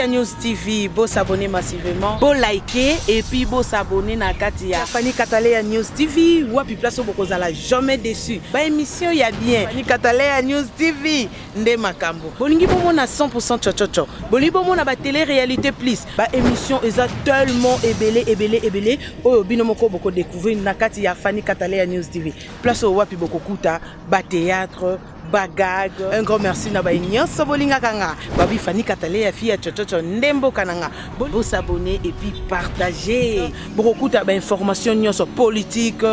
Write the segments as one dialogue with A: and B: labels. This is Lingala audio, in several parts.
A: ya News TV, beau s'abonner massivement, beau liker et puis beau s'abonner na Katia. Fanny Katalea News TV, wapi place au bokozala jamais déçu. Ba émission ya bien. Fanny Katalea News TV. nde makambo bolingi bomona 100% chochocho bolingi bomona ba télé réalité plus ba émission eza tellement ebele ebele ebele oyo bino moko boko découvrir na kati ya Fanny Katalea News TV place oyo wapi bokokuta ba théâtre bagag un grand merci na baye nyonso bolingaka nga babi fani katale ya fille ya chochocho nde mboka na nga bosabone epuis partage bokokuta bainformation nyonso politique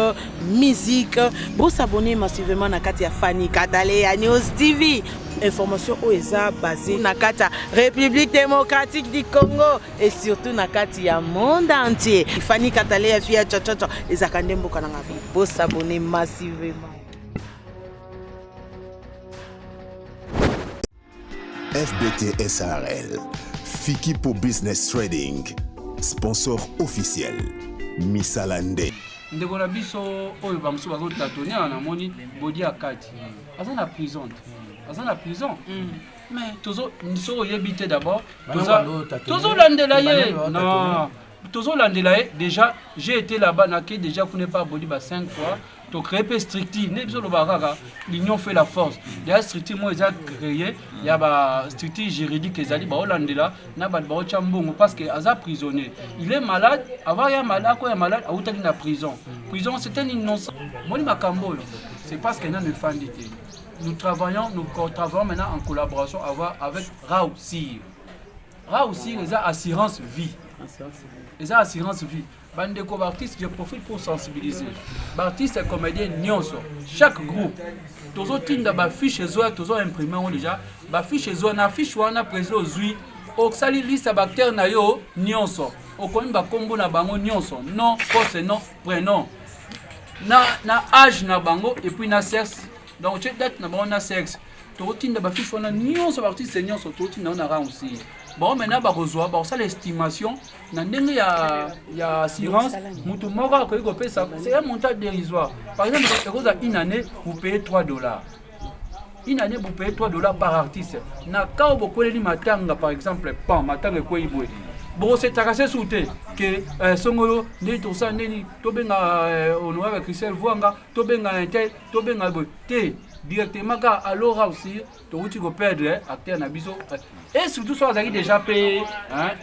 A: musique bo s'abonner massivement na kati ya Fanny Katale ya News TV information oyo eza basée na kati ya République démocratique du Congo et surtout na kati ya monde entier Fanny Katale ya fille ya chachacha ezaka nde mboka na nga bo s'abonner massivement
B: FBT SRL, Fikipo Business Trading, sponsor officiel, misala nde. ndeko na
C: biso oyo bamosusu bazotatone awa namoni bodi ya kati aza na prison te aza na prison mm. mais tozo soki oyebi te d'abord tozolandela ye na tozolandela ye déjà j'ai été là-bas nake déjà kuna epa bodi ba 5 fois to créer pe structure nde biso lobaka kaka l'union fait la force deya structure moko eza créer ya ba structure juridique ezali baolandela na bato baotya mbongo parce que aza prisonnier il est malade avant ya malade akoya malade awutaki na prison prison c'est un innocent moni makambo oyo c'est parce que nanu efandi te nous travaillons nous travaillons maintenant en collaboration avec Rao Sir Rao Sir eza assurance vie eza assurance vie bandeko baartiste je profite pour sensibiliser baartiste ya comédien nyonso chaque groupe tozotinda bafiche ezoya tozo imprime yango déjà bafiche ezoya na affiche wana président ozwi osali liste ya baacteur na yo nyonso okomi bakombo na bango nyonso non poste non prénom na, na age na bango epuis na sexe donc tie date na bango na sexe tokotinda bafiche wana nyonso baartiste nyonso tokotinda yango na ransi bango maintenant bakozwa bakosala estimation na ndenge ya ya assurance mutu moko akoki kopesa c'est un montant dérisoire par exemple ekozala une année vous payez 3 dollars une année vous payez 3 dollars par artiste na cas oyo bokweleli matanga par exemple pan matanga ekwei boye bokosetaka se su te ke eh, songolo ndeni tosala ndeni tobenga eh, honorable christel vuanga tobenga intel tobenga boye te directement kaka alora aussi towuti ko perdre acteur na biso et surtout soki azalaki déjà pe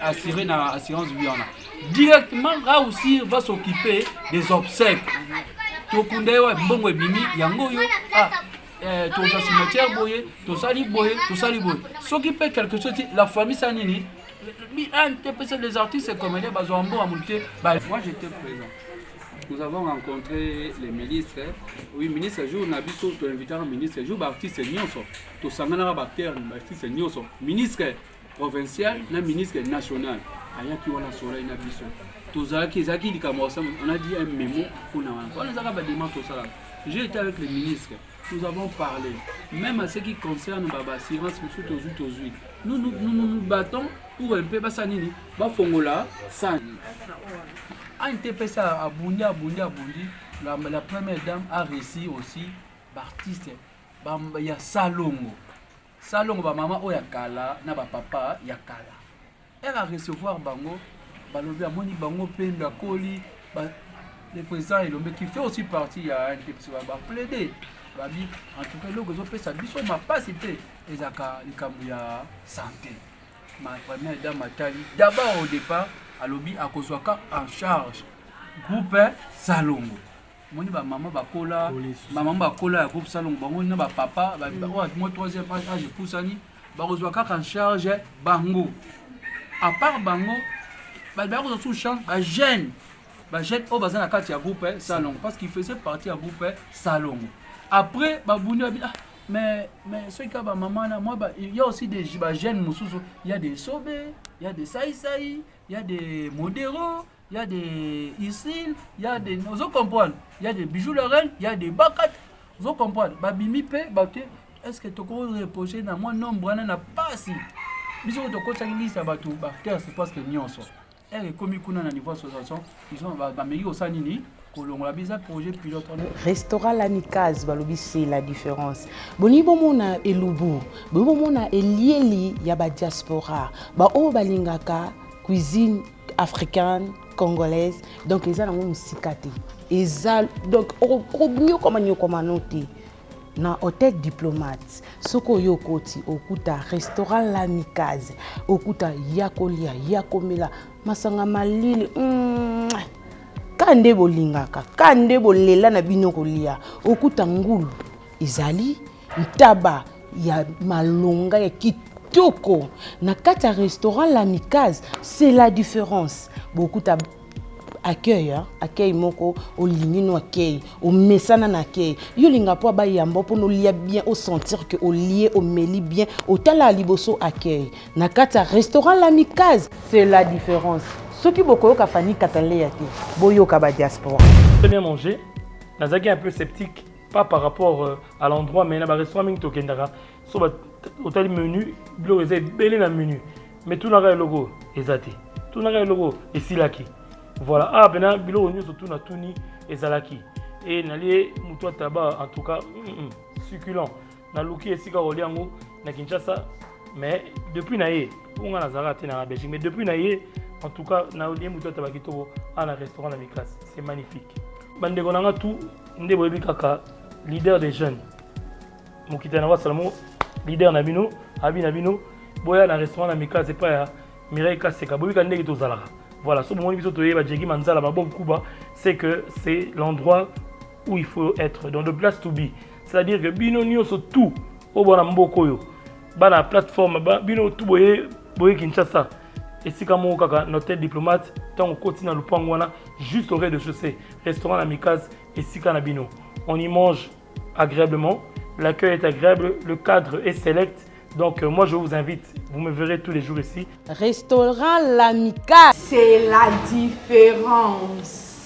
C: assuré na assurance vie wana directement rausir va s'occuper des obsèques tokunda ye wa mbongo ebimi yango oyo ah, eh, toza cimetière boye tosali boye tosali boye soki mpe quelque chose ti la famille sa nini ah, mpesa les artistes comédien bazwa mbongo ya moke te moi j'étais présent nous avons rencontré les ministres. Oui, ministre, jour na biso, tu invité un ministre, jour b'artiste nyonso, tu sanganaka b'acteur, b'artiste nyonso, ministre provincial na ministre national. ayaki wana soleil na biso tozalaki ezalaki likambo on a dit un memo mpona wana wana ezalaka badema tosalaka j'ai été avec le ministre nous avons parlé même à ce qui concerne ba assurance mosusu tozwi tozwi nous nous, nous, nous, nous battons pour un peu basala nini bafongola sani antps abundi abundi abundi la, la première dame a réussi aussi baartiste ba, ya salongo salongo bamama oyo ya kala na bapapa ya kala Heure a recevoir bango balobi amoni bango pembe akoli ba, le président elombe qui fait aussi partie ya ndepesi baplaide babi en tout cas eloko ezopesa biso mapasi mpe ezalaka likambo ya santé ma première dame atali d'abord au départ alobi akozwaka en charge groupe salongo moni ba maman bakola ba maman bakola ya groupe salongo bango na ba papa ba mm. oyo moi troisième âge âge epusani bakozwa kaka en charge bango à part bango bato baya kozwa sous charge ba jeune ba jeune oyo baza na kati ya groupe eh, salongo parce qu'il faisait partie ya groupe eh, salongo après babundi babi ah mais mais soki kaka ba maman na moi il y a aussi des ba jeunes mosusu il y a des sobe il y a des saisai il y a des modero il y a des Isil, il y a des ozo comprendre, il y a des bijoux la reine, il y a des bakat, ozo comprendre, ba bimi pe ba te est-ce que toko reposer na moi nombre wana na pasi. Biso to ko tsaki liste ba tout ba terre c'est parce que nyonso. Elle est commis kuna na niveau association, ils ont ba meli au sanini kolongola biza projet pilote restaurant
A: lamicase balobi c'est la différence bolingi bomona elubu bolingi bomona elieli ya badiaspora baoyo balingaka cuisine africaine congolaise donc eza nango mosika te eza donc okonyokoma nyokoma no te na hotel diplomate soki oyo okoti okuta restaurant lamikaze okuta ya kolia ya komela masanga malili mm, ka nde bolingaka ka nde bolela na bino kolia okuta ngulu ezali Ntaba ya malonga ya kitoko kitoko na kati ya restaurant l'amicase c'est la différence bokuta accueil hein? accueil moko olingi no accueil omesana na accueil yo olinga mpo abayamba mpona olia bien osentir ke olie omeli bien otalaka liboso accueil na kati ya restaurant l'amicase c'est la différence soki bokoyoka fani kataleya te boyoka ba diaspora très bien manger
D: nazalaki un peu sceptique pas par rapport euh, à l'endroit mais na ba restaurant mingi tokendaka so ba otali menu biloko eza ebele na menu mais tunaka eloko eza te tunaka eloko esilaki voilà ah pena biloko nyonso tuna tuni ezalaki e nalie motu ataba en tout cas mm -mm, succulent naluki esika kolia yango na kinshasa mais depuis na ye mpo ngai nazalaka te na belgique mais depuis na ye en tout cas nalie moto ataba kitoko a na restaurant na mikasi c'est magnifique bandeko na nga tout nde boyebi kaka leader des jeunes mokitani yango asala moko leader na bino abi na bino boya na restaurant na mikasi epai ya mireille kaseka boyebi ka ndenge tozalaka voilà so bomoni biso toyeba jeki manzala babob kuba c'est que c'est l'endroit où il faut être dans le place to be c'est à dire que bino nioso tout oyo bana mboka oyo bana plateforme ba, bino tout boye boye kinshasa esika moko kaka na hotel diplomate ntango okoti na lopango wana juste au rez-de-chaussée restaurant na mikase esika na bino on y mange agréablement l'accueil est agréable le cadre est select Donc euh, moi je vous invite, vous me verrez tous les jours ici. Restaurant
A: L'Amica. C'est la différence.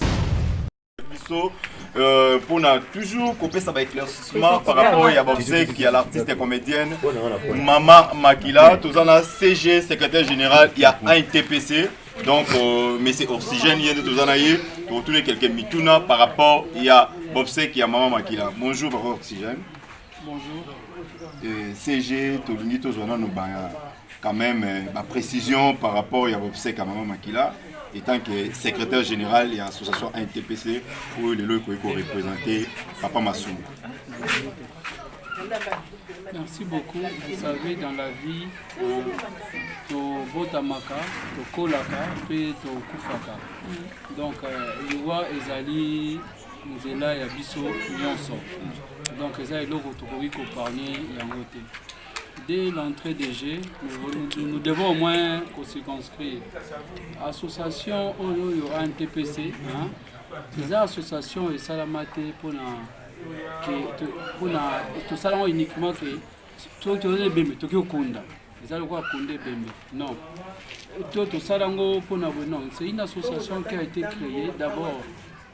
A: biso euh,
E: pour na toujours kopesa ba éclaircissement par rapport ya baobsèque ya l'artiste comédienne mama makila toza na cg secrétaire général ya intpc donc euh, mais c'est oxygène ye nde toza na ye tokotuna quelques mituna par rapport ya baobsèque ya mama makila bonjour papa oxygène bonjour
C: euh,
E: cg tolingi tozwa nano baya quand même euh, ba précision par rapport ya obsèque ya mama makila étant que secrétaire général ya association ntpc oyo lelo ekoki korepresente papa masumu
C: merci beaucoup vous savez dans la vie euh, tobotamaka tokolaka mpe tokufaka donc euh, liwa ezali nzela ya biso nyonso donc eza eloko tokoki kopargne yango te Dès l'entrée de jeu, nous, nous devons au moins qu'on se construire. Association Oyoyo NTPC, hein, les associations et Salamate pour tout ça uniquement que tout le monde est tout le monde eza lokola konde ebembe non to tosala yango mpona boye non c'est une association qui a été créée d'abord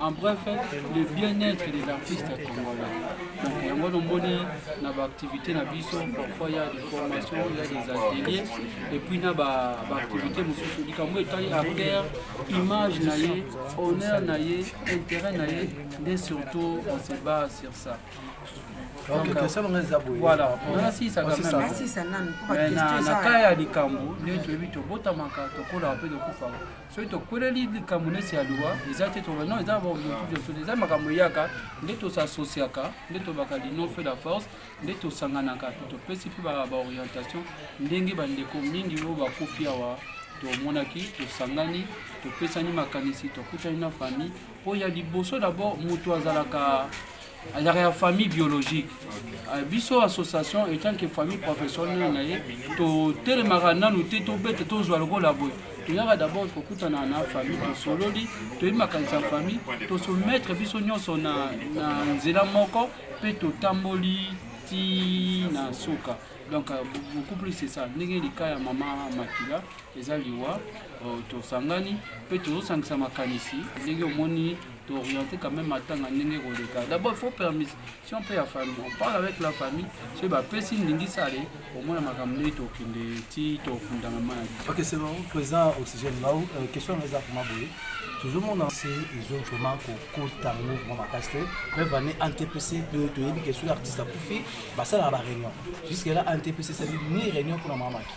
C: en bref le bien-être des artistes congolais donc yango nomoni na baactivité na biso parfois ya des formations ya des ateliers et puis na baactivité mosusu likambo etali acteur image na ye honneur na ye intérêt na ye nde surtout on se bat sur ça donc voilà nasisa na cas ya likambo nde toyebi tobotamaka tokolaka mpe tokufa soki tokweleli likambo neti ya liwa eza te toba non eza baobiokiviosote eza makambo eyaka nde tosasosiaka nde tobaka linon fe la force nde tosanganaka to topesi mpe baorientation ndenge bandeko mingi oyo bakufi awa tomonaki tosangani topesani makanisi tokutani na famille po ya liboso d'abord mutu azalaka azalaka ya famille biologique euh, biso association etant que famille professionnelle na ye totelemaka nanu te tobete tozwa lokola boye toyaka d'abord kokutana na famille tosololi toyebi makanisi ya famille tosometre biso nyonso na, na nzela moko mpe totamboli ti na suka donc euh, beaucoup plus c'est ça ndenge lika ya mama makila eza liwa euh, tosangani mpe tozosangisa makanisi ndenge omoni t'orienter quand même matanga ndenge koleka d'abord il faut permission mpe ya famille on parle avec la famille soki bapesi ndingisale omona makambo ndenge tokende ti tokunda mama na biso ok c'est bon
F: président oxygène lau euh, question yango eza vraimen boye toujours mona se ezo vraiment kokota mouvement makasi te preuve ane antpc toyebi ke soki artiste akufi basalaka baréunion jusque là antpc esali ni réunion mpona mama maki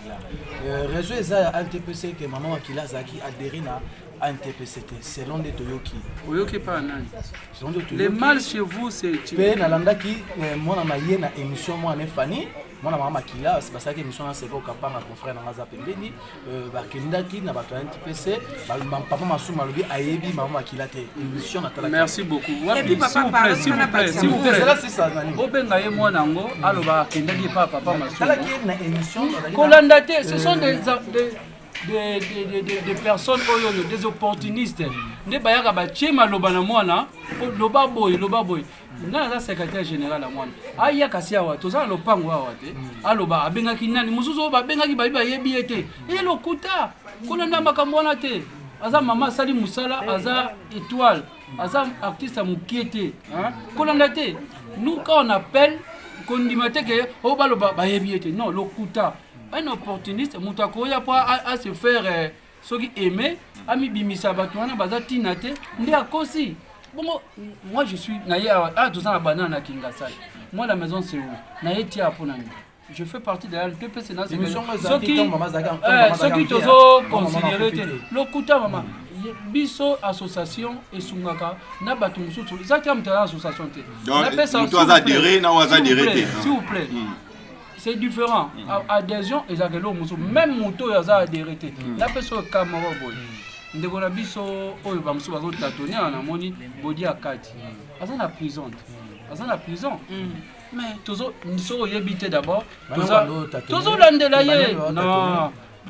F: Euh, réseau eza ya antpc ke mama makila azalaki adhéré na antpc te selon nde toyoki oyoki epa ya nani
C: selon nde le mal chez vous c'est mpe nalandaki
F: euh, mwana na ye na émission mwana ne fani mwana mama makila basalaki émission na seko kapanga confrère na nga aza pembeni euh, bakendaki na bato ya ntp pese papa masumu alobi ayebi mama makila te émission natala merci beaucoup wapi
C: s'il vous plaît
A: s'il vous plaît s'il vous
C: plaît cela c'est ça nani obenga
F: ye mwana yango
C: aloba akendaki epa papa masumu tala ki na émission
F: kolanda te ce
C: sont des euh, des, des, des, des, des personnes oyo oyo des opportunistes nde bayaka batie maloba na mwana loba boye loba boye nga naza secrétaire général ya mwana aya kasi awa toza na lopango awa te hmm. aloba abengaki nani mosusu oyo babengaki babi bayebi ye te ye eh, lokuta kolanda makambo wana te aza mama asali mosala aza étoile aza artiste ya mokie te kolanda te nous quand on appelle kondima te ke oyo oh, baloba bayebi ye te non lokuta un opportuniste moto akoya mpo ase faire euh, soki aime amibimisa bato wana baza ntina te nde akosi bongo moi je suis naye awa ah, toza na banana na kingasai moi la maison c'est où naye tia mpo na nini je fais partie de la LP pe c'est nazo soki eh, soki tozo considérer te lokuta mama biso association esungaka na bato mosusu eza te ya moto aza association te napesa
E: s'il vous plaît hmm.
C: c'est différent mm. adhésion ezalaka eloko mosusu mm. même moto oyo aza adhéré te mm. napesa oyo ka moko boye ndeko na biso oyo bamosusu bazotatone awa namoni bodi ya kati aza na prison te aza na prison mais tozo soki oyebi te d'abord tozolandela ye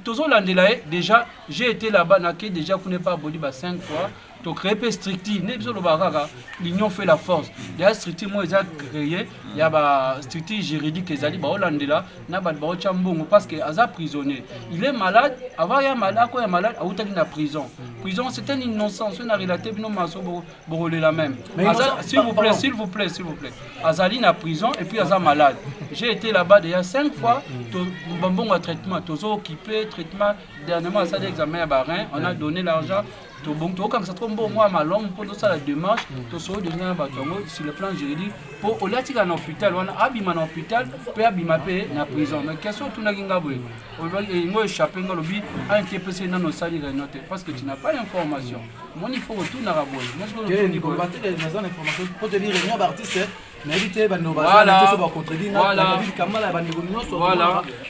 C: tozolandela ye déjà j'ai été là-bas nake déjà kuna epa bodi ba 5 fois to créer pe structure nde biso lobaka kaka l'union fait la force deya structure moko eza créer ya ba structure juridique ezali baolandela na bato baotya mbongo parce que aza prisonnier il est malade avant ya malade akoya malade awutaki na prison prison c'est un innocent soki na relate bino maso bokolela même s'il vous plaît s'il vous plaît s'il vous plaît azali na prison et puis aza malade j'ai été là-bas déjà cinq fois bambongo ya traitement tozo occupé traitement dernièrement asali examen ya barin on a donné l'argent tobongi tokokangisa trop mbongo mwa malamu mpo tosala démarche tosolo deja na bato yango sur le plan juridique mpo olie atika na hôpital wana abima na hôpital mpe abima mpe na prison mais question otunaki nga boye ngo échappe nga olobi anti epesi nano osali réunion te parce que tu n'as pas information moni fo otunaka boye
F: nayebi te bandeko bazana toso bacontredit nayebi kamala ya bandeko nyonso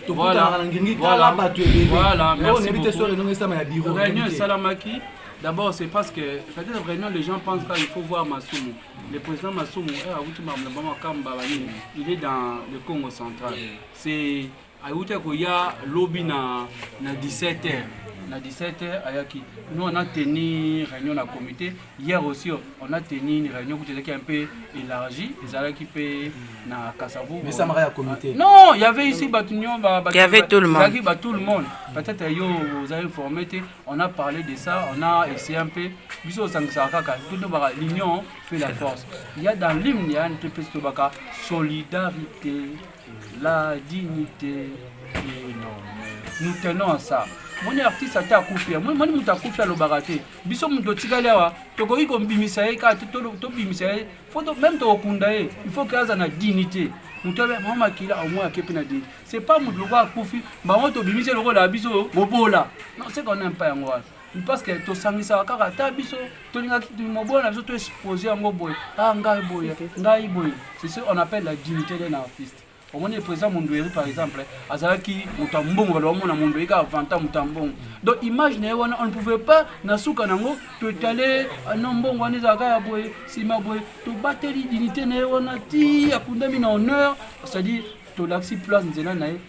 F: tokutanaka na ngingi tala bato
C: ebele nayebi te so renongo esama ya biro réunion esalamaki D'abord, c'est parce que, peut-être vraiment, les gens pensent qu'il faut voir Masumu. Le président Masumu, eh, il est dans le Congo central. C'est ayuta koya lobi na, na 17 heures na 17 heures ayaki nous on a tenu réunion na comité hier aussi on a tenu une réunion qui était un peu élargie ezalaki pe na Kasavu mais ça m'a comité
F: non il y avait ici
C: Batunyon ba, il y avait
A: tout le monde
C: il y avait
A: tout le monde
C: peut-être yo vous avez informé on a parlé de ça on a essayé un peu biso sangisa kaka tout le monde l'union fait la force il y a dans l'hymne il y a une solidarité la dignité et non nous tenons à ça moni artiste ata akufi moni moto akufi alobaka te biso moto otikali awa tokoki kobimisa ye kaka tobimisa ye fo meme tokokunda ye il faut ke aza na dignité moto abe mama makila omoi ake mpe na dini c'est pas moto lokola akufi bango tobimisi lokola biso bobola non c'est qu'on aime pas yango wana parce que tosangisaka kaka ata biso tolingaki mobola na biso to expose yango boye ah ngai boye ngai boye c'est ce on appelle la dignité d'un artiste omoni président mondoeri par exemple azalaki moto ya mbongo baloba mona mondoeri kaka vanta moto ya mbongo donc image na ye wana on ne pouvait pas na suka nango totale ah no mbongo wana ezalaka ya boye nsima boye tobateli dignité na ye wana ti akundami na honneur c'est-à-dire tolakisi place nzela na ye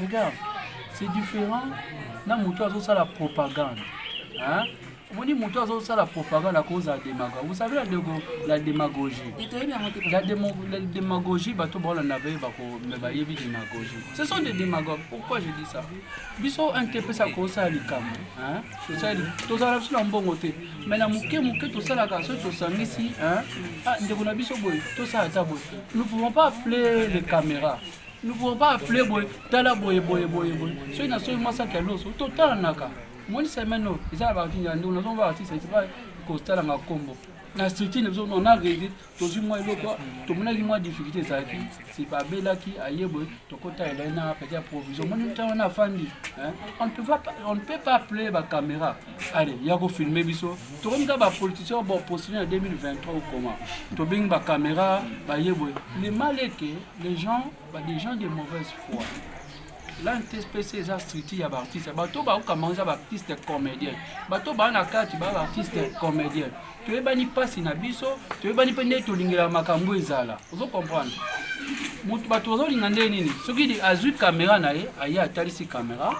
C: regarde c'est différent na moto azosala propagande hein? omoni moto azosala propagande akozala demago vous savez la, dego, la démagogie la, demo, la démagogie bato baolanda baye me bayebi démagogie ce sont des démagogues pourquoi je dis ça biso intepesa kosala likambo tozala biso na mbongo te mai na moke moke tosalaka soki tosangisi ah, ndeko na biso boye tosala ata boye nous pouvons pas appeler les caméras nous pouvons pas appeler boye tala boye boye boye boye soki na soki masaki ya loso totalanaka moni semaine oyo eza na baartiste ya ndongo nazomba baartiste epa kotalanga nkombo na structure na biso on a rede tozwi mwa eloko tomonaki mwa difficulté ezalaki sipa abelaki aye boye tokota elai na peti ya provision moni ntango wana afandi on ne peut pas appeler bacaméra ale ya kofilme biso tokomi kaka bapoliticien baopostine ya 2023 okoma tobengi bacaméra baye boye le mal eke les gens ba des gens de mauvaise foi la ntspc eza structure ya baartiste bato baokamba eza baartiste comédien bato baa na kati baa baartiste comédien toyebani mpasi na biso toyebani mpe ndenge tolingela makambo ezala ozo comprendre moto bato bazolinga ndenge nini soki azwi kamera na ye aye atalisi kamera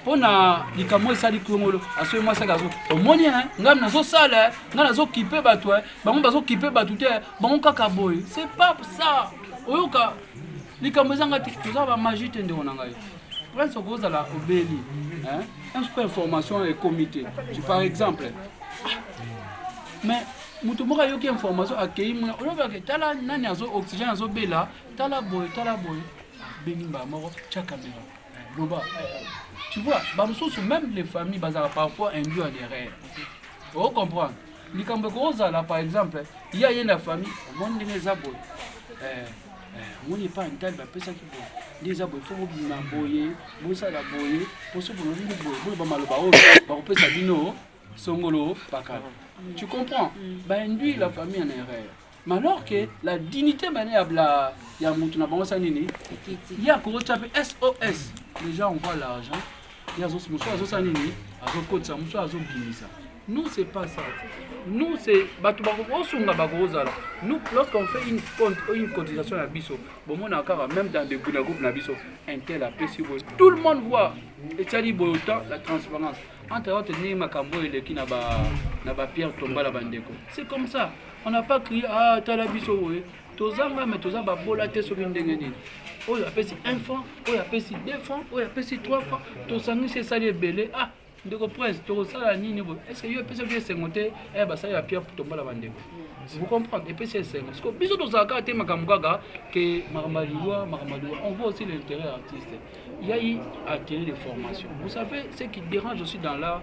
C: mpo na likambo oyo esali kongolo asoki mwasi ake azo omoni e ngai nazosala e ngai nazokipe bato e bango bazokipe bato te bango kaka boye c'est pas ça oyoka likambo ezanga te toza bamagi te ndeko na ngai prince okozala obeli mpe information ekomi te par exemple ah, mais moto moko ayoki information akei mona olobaka tala nani azo oxygène azobela tala boye tala boye bengi mbala moko tya kamera Loba. Tu vois, bamosusu même les familles bazala parfois induit en erreur. Oh comprendre. Likambo ekozala par exemple, il y a une famille, bon ndenge eza boye. Eh, eh, omoni epai ntali bapesaki boye nde eza boye fo bobima boye bosala boye mpo soki bolobini boye boye bamaloba oyo bakopesa bino songolo pakala tu comprends mm. bainduire la famille en erreur mais alors que la dignité mane ya bla ya mutu na bango sa nini ye akokotya mpe sos déjà on voit l'argent ye azosi mosusu azosala nini azokotisa mosusu azobimisa nous c'est pas ça nous c'est bato bakosunga bakozala nous lorsqu'on fait une, compte, une cotisation ya biso bomona kaka même dans des na groupe na biso intel apesi boye tout le monde voit etiali boye autant la transparence entre autres ndenge makambo oyo eleki na bapierre tombala bandeko c'est comme ça on n'a pas crié ah tala biso boye toza nga mais toza babola te soki ndenge nini oyo apesi 1 franc oyo apesi 2 franc oyo apesi 3 franc tosangisi esali ebele ah ndeko prince tokosala nini boye estce yo epesaki esengo te eh, basali ya pierre tombola bandeko vous comprendre epesi esengo siko biso tozala kaka te makambo kaka ke makambo ya liwa makambo ya liwa on voit aussi l'intérêt artiste il y a eu atelier de formation vous savez ce qui dérange aussi dans l'art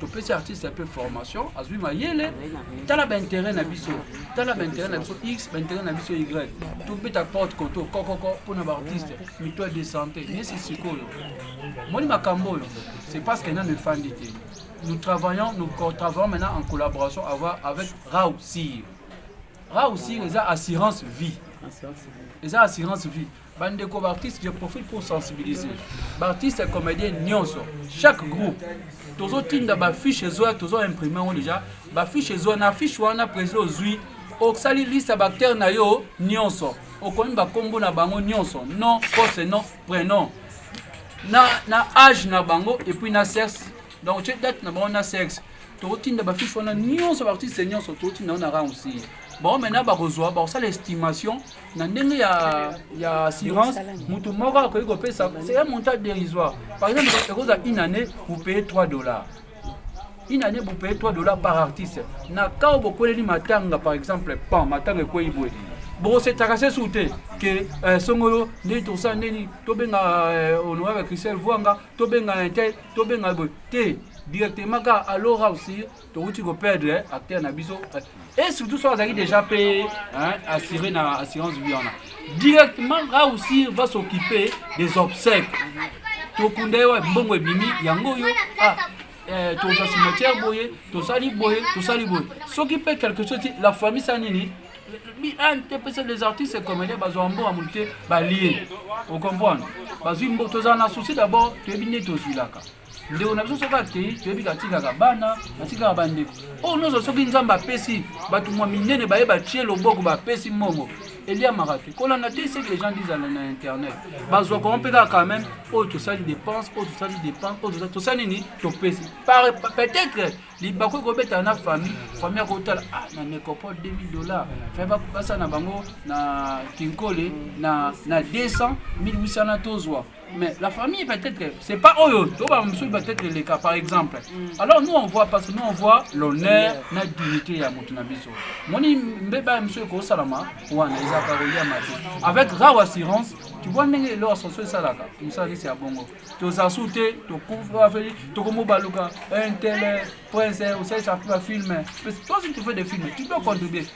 C: topesi artiste mpe formation azwi mayele tala bainteret na biso tala bainteret na biso x bainteret na biso y tobeta porte koto kokoko mpo na baartiste mito de santé nesi sikoyo moni makambo oyo c'est parce que nano efandi te nous travaillons nous travaillons maintenant en collaboration avec rau sir rau sir eza assurance vie eza assurance vie bandeko baartiste je profite pour sensibiliser baartiste ya comédien nyonso chaque groupe tozotinda bafiche ezoya tozo imprime yango déjà bafiche ezoya na affiche wana président ozwi osali liste ya baacteur na yo nyonso okomi bakombo na bango nyonso non poste non prénom na, na age na bango epuis na sexe donc tie date na bango na sexe tokotinda bafiche wana nyonso baartiste nyonso tokotinda yango na ransi bango maintenant bakozwa bakosala estimation na ndenge ya ya assurance mutu moko akoki kopesa c'est un montant dérisoire par exemple ekozala une année vous payez 3 dollars une année vous payez 3 dollars par artiste na cas oyo bokweleli matanga par exemple pan matanga ekwei boye bokosetaka se su te ke eh, songolo ndeni tosala ndeni tobenga eh, honorable christel vuanga tobenga intel tobenga boye te directement kaka alora aussi towuti ko perdre acteur na biso et surtout soki azalaki déjà pe assuré na assurance vie wana directement rausir va s'occuper des obsèques tokunda ye wa mbongo ebimi yango oyo ah, eh, toza cimetière boye tosali boye tosali boye soki mpe quelque chose ti la famille sa nini ntepesa les artistes comédien bazwa mbongo ya motu te balie ocomprendre bazwi mbo tozala na souci d'abord toyebi nde tozwilaka ndeko na biso soki akei toyebi atikaka bana atikaka bandeko oyo nyonso soki nzambe apesi bato mwa minene baye batie loboko bapesi mbongo eliamaka te kolanda te seke gens dizala na internet bazwa koma mpe kaka quand même oyo tosali dépense oyo tosali dépense oyo tosali nini topesi peut-être libaku ekobetana na famille famille akotala ah, na nécropole 2000 dollars fe basala na bango na kinkole na 200 1800 na tozwa Mais la famille peut-être, c'est pas Oyo, tu vois, monsieur peut-être les cas par exemple. Mm. Alors nous on voit parce que nous on voit l'honneur, la dignité ya mutu na biso. Moni mbeba monsieur ko salama, wana eza ka roya mate. Avec rare assurance, tu vois ndenge leur ascension esalaka, musala kisi ya bongo. Toza soute, tokufa afeli, tokomo baluka, un tel prince, osalisa film. Parce que toi si tu fais des films, tu dois contribuer.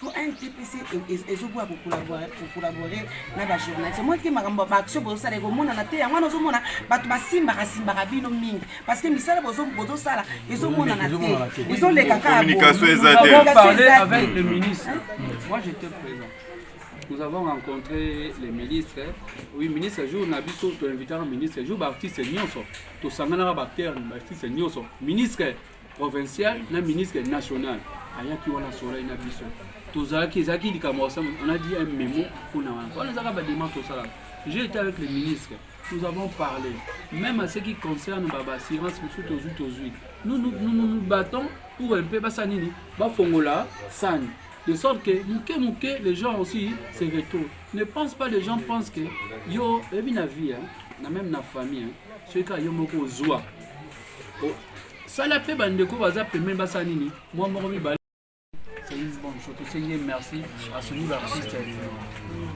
G: po ndpc ezoboya kokolabore na bajournaliste omoni te makambo baaction bozosala ekomonana te yango wana ozomona bato basimbaka simbaka bino mingi parce que misala bozosala ezomonana te ezoleka
C: kakaommunication eza te Nous avons rencontré les ministres. Oui, ministre, jour na biso, tu invites un ministre. Jour, baptiste, nyoso. Tu sanganara bactère, baptiste, nyoso. Ministre, provincial na ministre national ayaki wana solai na biso tozalaki ezalaki likambo osama on a dit un memo mpona wana wana ezalaka bademande tosalaka j'ai été avec le ministre nous avons parlé même à ce qui concerne ba baassurance mosusu tozwi tozwi nous nous, nous, nous, nous battons pour un peu basala nini bafongola sani de sorte que moke moke les gens aussi se retournent ne pense pas les gens pensent que yo ebi na vie hein, na même na famille hein, soki kaka yo moko ozwa sala mpe bandeko baza pembeni basala nini mwa moko mibale merci à ce nouvel artiste.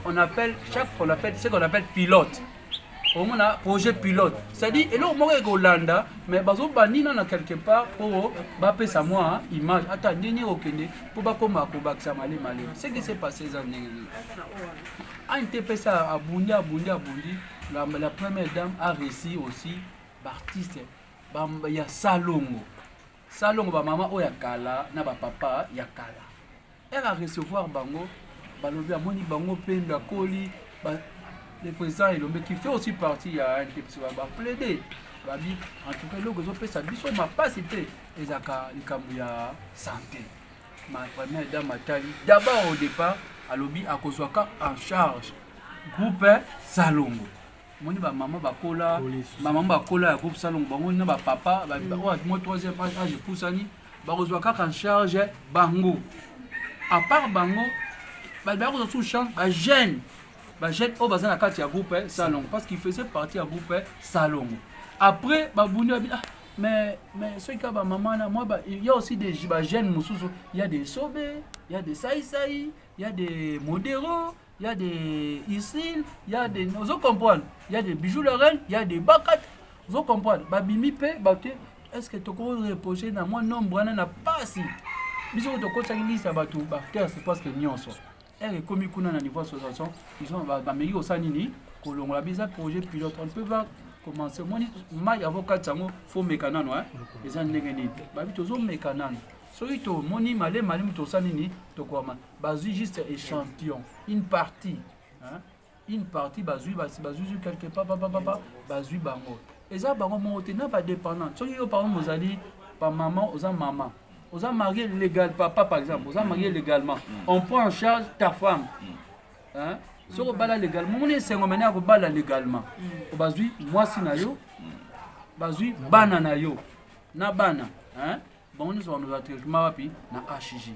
C: On appelle, chaque fois on appelle, c'est qu'on appelle pilote. omona projet pilote c'est-à-dire eloko moko ekolanda mais bazobandi nana quelque part mpo bapesa mwa image ata ndenge okende mpo bakoma kobakisa male male ce qui s'est passé eza ndenge nini antepesa abundi abundi abundi la, la première dame a réussi aussi B'artiste ba ya salongo salongo ba mama oyo ya kala na ba papa ya kala ere a recevoir bango balobi amoni bango mpe ndakoli le président elombe qui fait aussi partie ya ndepesi baplaide babi en tout cas eloko ezopesa biso mapasi mpe ezalaka likambo ya santé ma première dame atali d'abord au départ alobi akozwaka en charge groupe salongo moni ba maman bakola ba maman bakola ya groupe salongo bango na ba papa ba mm. oyo moi troisième âge âge epusani bakozwa kaka en charge bango à part bango ba ba kozwa sous charge ba jeune ba jeune oyo baza na kati ya groupe eh, salongo parce qu'il faisait partie ya groupe eh, salongo après ba bundi ba ah mais mais soki kaka ba maman na moi ba il y a aussi des ba jeunes mosusu il y a des sobe il y a des saisai il y a des modero il y a des Isil, il y a des ozo comprendre, il y a des bijoux la reine, il y a des bakat, ozo comprendre, ba bimi pe ba te est-ce que toko reposer na moi nombre wana na pasi. Biso to ko tsaki liste ba tout ba terre c'est parce que nyonso. Elle est comme kuna na niveau association, ils ont ba meli au sanini ko longola biza projet pilote on peut voir commencer moi mai avocat sango faut mekanano hein. Eza ndenge nini? Ba bi tozo mekanano. soki tomoni malema nini tosali nini tokwama bazwi juste échantillon une partie hein? une partie bazwi bazwi quelque part papa papa bazwi bango eza bango moko te na badépendante soki yo par exemple ozali bamama oza mama oza marié légal papa par exemple oza marié légalement mm. on prend en charge ta femme mm. hein? soki obala légalement omoni esengo mene ya kobala légalement mm. bazwi mwasi na yo bazwi bana na yo na bana hein? bango nyonso bamozala traitement wapi na hg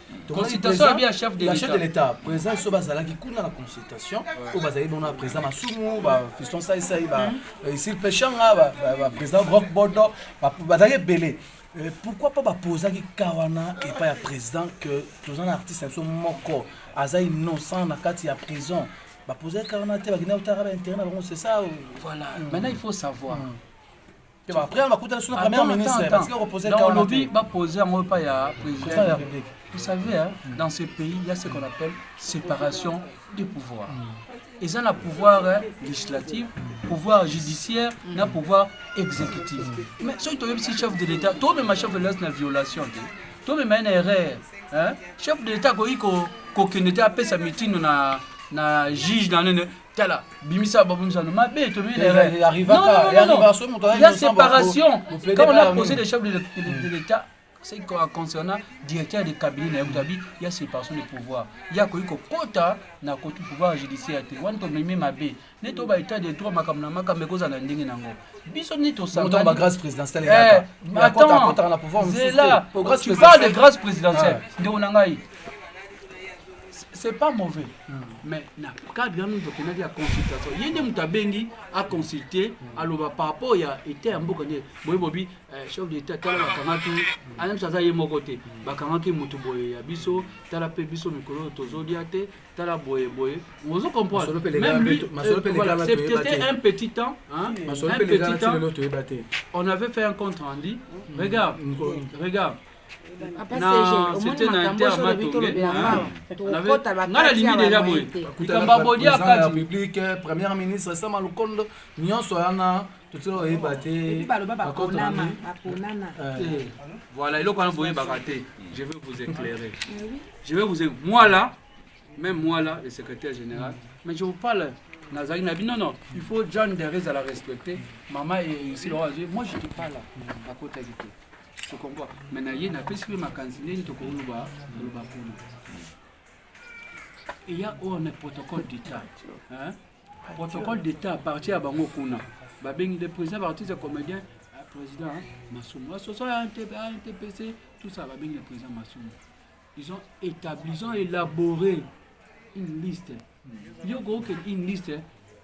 F: consultation ya bien
C: chef de l'état chef de l'état président
F: so bazalaki kuna na consultation oyo bazali bongo na président masumu ba fiston saisai ba hmm. isil eh, peshanga ba président rock bodo bazalaki ebele Euh, pourquoi pas bapozaki ka wana epai ya président que toza na artiste na biso moko aza innocent na kati ya prison bapozaki ka wana te bakenda kotaka baintérêt na bango c'est ça voilà hmm. maintenant
C: il faut savoir hmm.
F: olobi bapose
C: yango epai ya président vous savez hein, mm. dans ce pays il y a ce qu'on appelle séparation des pouvoirs mm. eza na pouvoir hein, législatif mm. pouvoir judiciaire na pouvoir exécutif mais soki toyebisi chef de l'état tomema chef de l'état na violation te tomema ye na erreur hein. chef de l'état akoki kokende te apesa mitindo na na juge na nene tala bimisa babomisano mabe tobeya séparation quand on a posé le chef de, de, de l'état c'est concernant directeur de cabinet na yebutabi ya séparation de pouvoir ye akoki kokota na koti pouvoir judiciaire te wana tomemi mabe nde to ba état de droit makambo na makambo ekozala na ndenge na yango biso nde tosangaazela
F: tu
C: parle de grâce présidentielle ndeko na ngai c'est pas mauvais mais na cadre ya mutu akendaki ya consultation ye nde moto abengi aconsulte aloba par rapport ya etat ya mboka nde boye bobi eh, chef de etat tala bakangaki anamso aza ye moko te bakangaki moto boye ya biso tala mpe biso mikolo oyo tozolia te tala boye boye ozo comprendre même lui euh, voilà, c'était un petit temps hein, un petit temps on avait fait un compte rendu regarde regarde
F: première ministre sama lokondo nyonso wana totila oyeba te
C: voilà eloko wana boyebaka te je vais vous éclairer je vais vous moi là même moi là le secrétaire général mais je vous parle nazali na bino non il faut john derez à la respecter mama et ici moi je te parle akotaki te tokomboa me na ye napesi mpe makanisi ndenge tokoloba koloba kuna eya oyo na protocole d'état protocole d'état parti ya bango kuna babengi nde président baartiste ya comédien ah, président masumu asoso ya ntpc tout ça babengi le président masumu ils ont établi ils ont élaboré une liste yo kookende une liste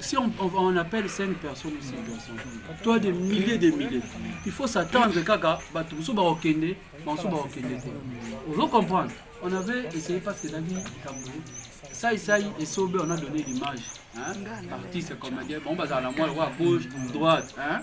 C: si on, on, on appelle 5 personnes ou 6 personnes, toi des milliers des milliers, il faut s'attendre kaka, bato mosusu bakokende, bamosusu bakokende te. Ozo comprendre On avait essayé parce que ezalaki likambo sai sai esobe on a donné l'image hein? artiste comédien bango bazala na mwa lokola gauche droite hein?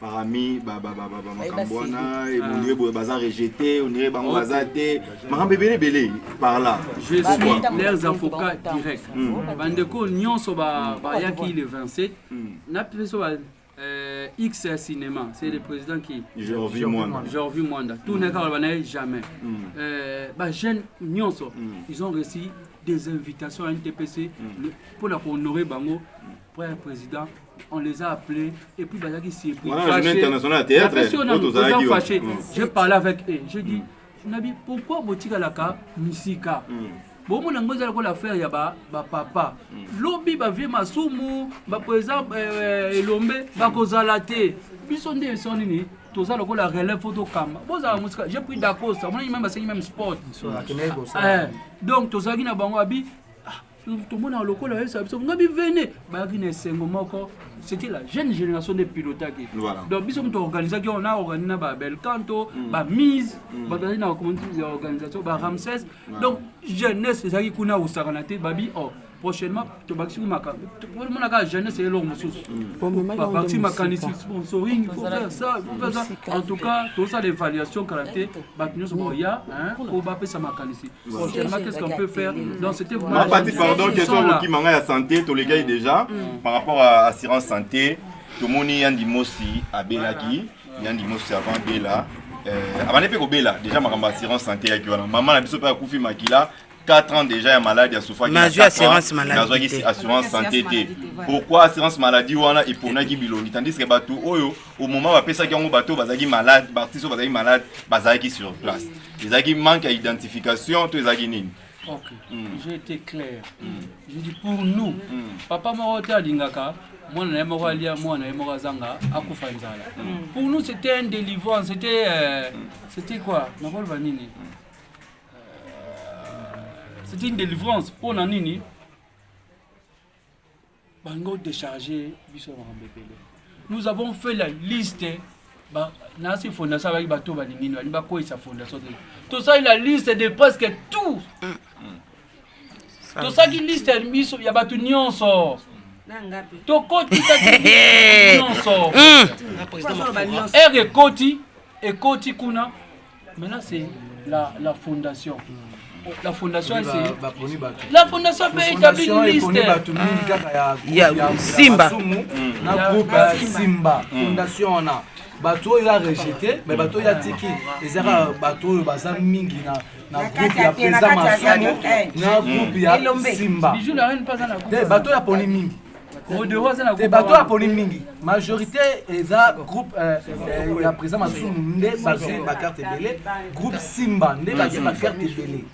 E: parami makambo wana ebondiye boye baza rejete onire bango baza te makambo ebele ebele par là je suis
C: leurs avocats direct hmm. bandeko nyonso bayaki le 27 hmm. na biso euh, X à cinéma, c'est le président qui Jorvi Mwanda.
E: Jorvi Mwanda.
C: Tout n'est pas jamais. Mm. Euh, bah, jeunes, mm. ils ont reçu des invitations à NTPC mm. pour la honorer Bango après président on les a appelés et puis bazalaki surpris fâché j'ai parlé avec eux j'ai dit mm. nabi pourquoi botikalaka misika mm. bomona yango eza lokola affaire ya bapapa mm. lobi bavie masumu baprésident eh, eh, elombe bakozala te biso nde eso nini toza lokola relève fo tokamba bozala mm. mosika j'ai pris dacosta omonani meme basengi meme sport eh, donc tozalaki na bango abi tomonaka lokola oyebisa biso nga bivene bayaki na esengo moko c'était la jeune génération nde pilotaki donc biso moto organisaki yango na organi na babelcanto mm. bamise mm. bato azali na communauté ya organisation baramses donc jeunesse ezalaki kuna kosakana te babi o oh, prochainement tobakisi makambo omona kaka jeunesse ye eloko mosusu babakisi makanisi sponsoring il faut faire ça il faut faire ça en tout cas tozosala évaluation kala te bato nyonso bakoya po bapesa makanisi concernant qu'est-ce qu'on peut faire donc c'était vraiment la mapati pardon question question là. kokima
E: ngai ya santé tolekaki déjà par rapport à assurance santé tomoni yandi mosi abelaki yandi mosi avant abela euh, abandi mpe kobela déjà makambo ya assurance santé yaki wana mama na biso mpe akufi makila 4 ans déjà ya malade asufaki Mais azwi assurance maladie azwaki te. assurance santé te pourquoi assurance maladie wana eponaki bilongi tandis que bato oyo au moment bapesaki yango bato oyo bazalaki malade baartiste oyo bazalaki malade bazalaki sur place ezalaki manque ya identification to ezalaki nini Ok, mm.
C: j'ai été clair. Mm. Je dis pour nous, mm. papa moko te alingaka mwana na ye moko alia mwana na ye moko azanga akufa nzala. Mm. Pour nous c'était un délivrance, c'était euh, mm. c'était quoi? Nakoloba nini? Euh, c'était une délivrance pour na nini? bango décharge biso makambo ebele nous avons fait la liste nasi fondation abaki bato balingi balingi bakweyisa fondation te tosali la liste de presque tout tosaki liste ya biso ya bato nyonso tokotisaki nyonso ere ekoti ekoti kuna Maintenant c'est la, la fondation. La fondation Oui, c'est ba- baponi bato. la fondation peut établir Fondation une eponi liste. bato mingi kaka ya
A: Ya- ya- ya Simba. Masumu na Ya-
F: groupe ya ya simba fondation wana bato oyo ya rejete me bato oyo ya tiki ezaka bato oyo baza mingi na na Na groupe kati ya ya te, na président kati ya masumu te, eh. na groupe ya Elombe. simba Bijou la reine pas dans la te coupe. bato oyo aponi mingi modero aza na te bato oyo aponi mingi majorité eza groupe euh, euh, ya président masumu nde bazwi bakarte ebele groupe simba nde bazwi bakarte ebele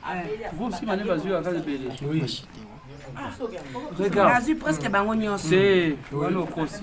F: groupe simba nde
C: bazwi bakarte ebele
G: regarde azwi presque bango nyonso te wana
C: okosi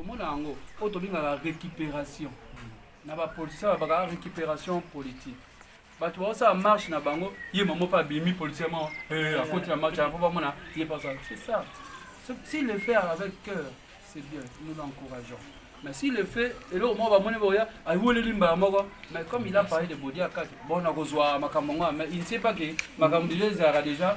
C: tomona yango oyo tobengaka récupération na bapolitisien babaka récupération politique bato baosala marche na bango ye mamo mpe abimi politisien mo eh, akoti na marche yango mpo bamona ye mpe asala c'est ça si le faire avec cœur c'est bien nous l'encourageons mais si le fait eloko moko bamoni boya aweleli mbala moko mais comme il a parlé de bodi akati bon nakozwa makambo yango mais il ne sait pas que makambo deja ezalaka déjà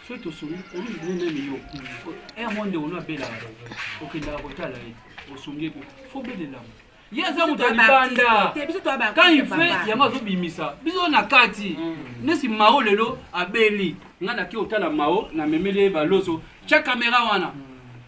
C: soki tosombi olingi bino nani yo un eh, monde ono abelaka okendaka kotala ye osombi ebe fo belelama ye aza moto ya libanda quand il fait yango azobimisa biso na kati mm. nesi mao lelo abeli ngai nake otala mao na memeli ye baloso tya kamera wana mm.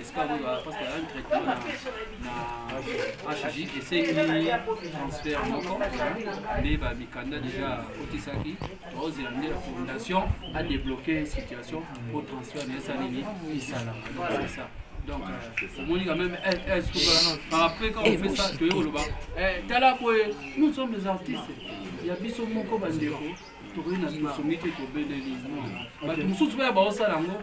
C: esika oyo bapaske ya traitement na hj esengi transfert moko nde bamikanda deja akotisaki baozela nde fondation adebloke situation po transfert na esa nini esalama ça donc euh, omoni quand même eh, eh, par après quand on fait ça toye koloba eh, tala boye nous sommes des artistes ya biso moko bandeko tokoki na tosongi te tobeleli bato mosusu mpe ya baosala yango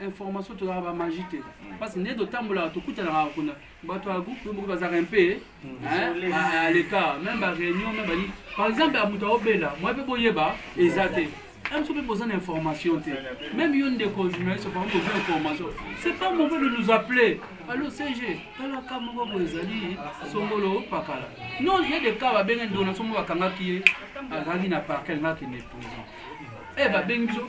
C: information tozalaka ba magie te parce que nde totambolaka tokutanaka kuna bato ya groupe moko bazalaka mpe à l'écart même ba réunion même bani par exemple ya moto aobela moi mpe boyeba eza te un petit peu besoin d'information. Même une des journalistes, par exemple, besoin d'information. C'est pas mauvais de nous appeler. Allô, CG, tala kama kwa mwezali, songolo, pakala. Non, il y a des cas, bah, ben, donation, mwakanga qui est, à la ligne à parquet, là, qui n'est pas. Eh, bah, ben, bisous.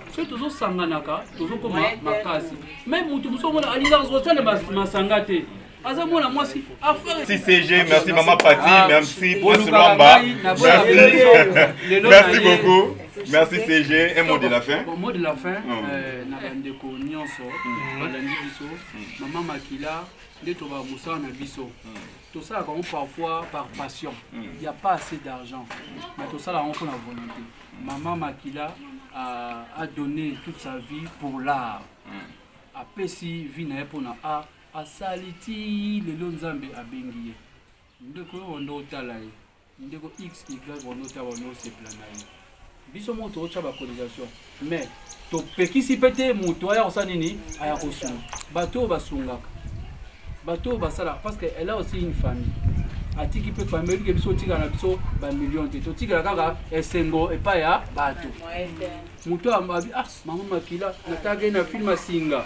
C: soki tozosanganaka tozokoma makasi me motu mosusu omona alingaka kosala masanga te aza mwana mwasi
E: CCG merci maman Pati ah, merci Prince Lwamba merci merci beaucoup merci CG un mot de la fin bon, mot de la fin mm. euh,
C: na bandeko nyonso mm. balandi biso mm. mama makila nde toba mosala na biso tosalaka yango parfois par passion il y a pas assez d'argent mais tosala yango mpo na volonté mama makila a, a donné toute sa vie pour l'art apesi vie na ye mpo na art asali ti lelo nzambe abengi ye ndeko oyo nde otala ye Ndeko XY Renaud Tawa no sepela na ye. Biso moko tokotya bacotisation mais topekisi mpe te moto aya kosala nini aya kosunga bato oyo basungaka bato oyo basalaka parce que elle a aussi une famille atiki mpe famille oyebi ke biso otikala na biso bamillion te totikala kaka esengo epai ya bato moto abi ah mango makila natake na filme asinga